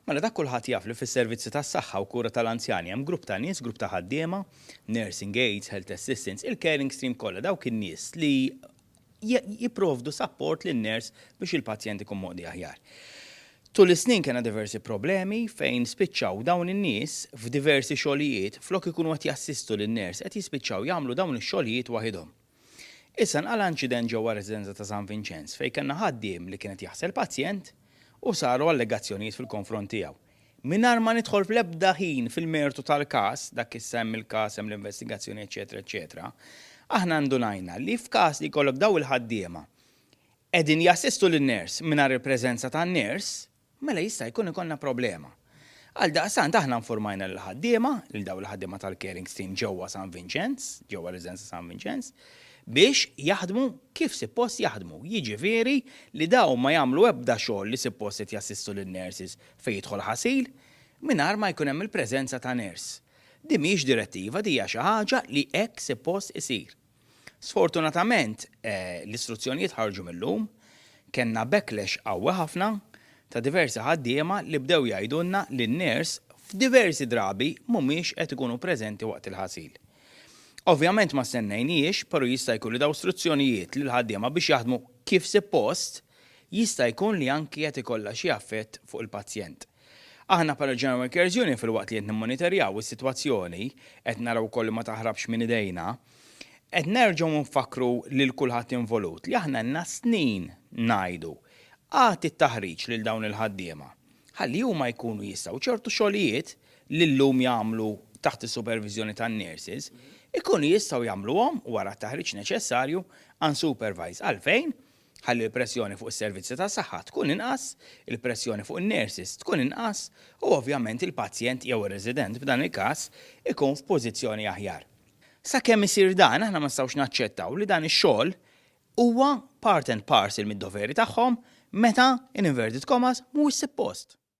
Mela dak kulħadd jaf li fis-servizzi tas-saħħa u kura tal-anzjani hemm grupp ta' nies, grupp ta' ħaddiema, nursing aides, health assistants, il-caring stream kollha dawk in-nies li jipprovdu sapport lin-nurse biex il-pazjent ikun moqdi aħjar. Tul is-snin kellna diversi problemi fejn spiċċaw dawn in-nies f'diversi xogħlijiet flok ikunu qed jassistu lin-nurse qed jispiċċaw jagħmlu dawn ix-xogħlijiet waħidhom. Issa nqala' inċident ġewwa r-residenza ta' San Vinċenz fejn kellna ħaddiem li kien qed jaħsel pazjent u saru allegazzjonijiet fil-konfront tiegħu. Mingħajr ma nidħol fl-ebda ħin fil-mertu tal-każ, dak issa hemm il-każ, hemm l-investigazzjoni eċċetera eċċetera, aħna ndunajna li f'każ li jkollok dawn il-ħaddiema qegħdin jassistu lin-nurse mingħajr il-preżenza tan-nurse, mela jista' jkun ikollna problema. Għaldaqstant aħna nfurmajna lill-ħaddiema, lil dawk il-ħaddiema tal-caring stream ġewwa San Vinċenz, ġewwa r-residenza San Vinċenz, biex jaħdmu kif sippost jaħdmu, jiġifieri li dawn ma jagħmlu ebda xogħol li sippost qed jassistu lin-nurses fejn jidħol ħasil, mingħajr ma jkun hemm il-preżenza ta' nurse. Din mhijiex direttiva, din hija xi ħaġa li hekk sippost isir. Sfortunatament, l-istruzzjonijiet ħarġu mil-lum, kellna backlash qawwi ħafna ta' diversi ħaddiema li bdew jgħidulna li n-ners f'diversi drabi mhumiex qed ikunu preżenti waqt il-ħasil. Ovvjament ma stennejnihiex, però jista' jkun li dawn struzzjonijiet lill-ħaddiema biex jaħdmu kif sippost jista' jkun li anki qed ikollha xi affett fuq il-pazjent. Aħna bħala General Workers Union filwaqt li qed nimmonitorjaw is-sitwazzjoni, qed naraw ukoll li ma taħrabx minn idejna, qed nerġgħu nfakkru lil kulħadd involut li aħna ilna snin ngħidu, agħti t-taħriġ lil dawn il-ħaddiema ħalli huma jkunu jistgħu ċertu xogħlijiet li llum jagħmlu taħt is-superviżjoni tan-nurses, ikunu jistgħu jagħmluhom wara t-taħriġ neċessarju unsupervised. Għalfejn? ħalli l-pressjoni fuq is-servizzi tas-saħħa tkun inqas, il-pressjoni fuq in-nurses tkun inqas u ovvjament il-pazjent jew ir-resident f'dan il-każ ikun f'pożizzjoni aħjar. Sakemm isir dan, aħna ma nistgħux naċċettaw li dan ix-xogħol huwa part and parcel mid-doveri tagħhom meta, in inverted commas, mhuwiex sippost.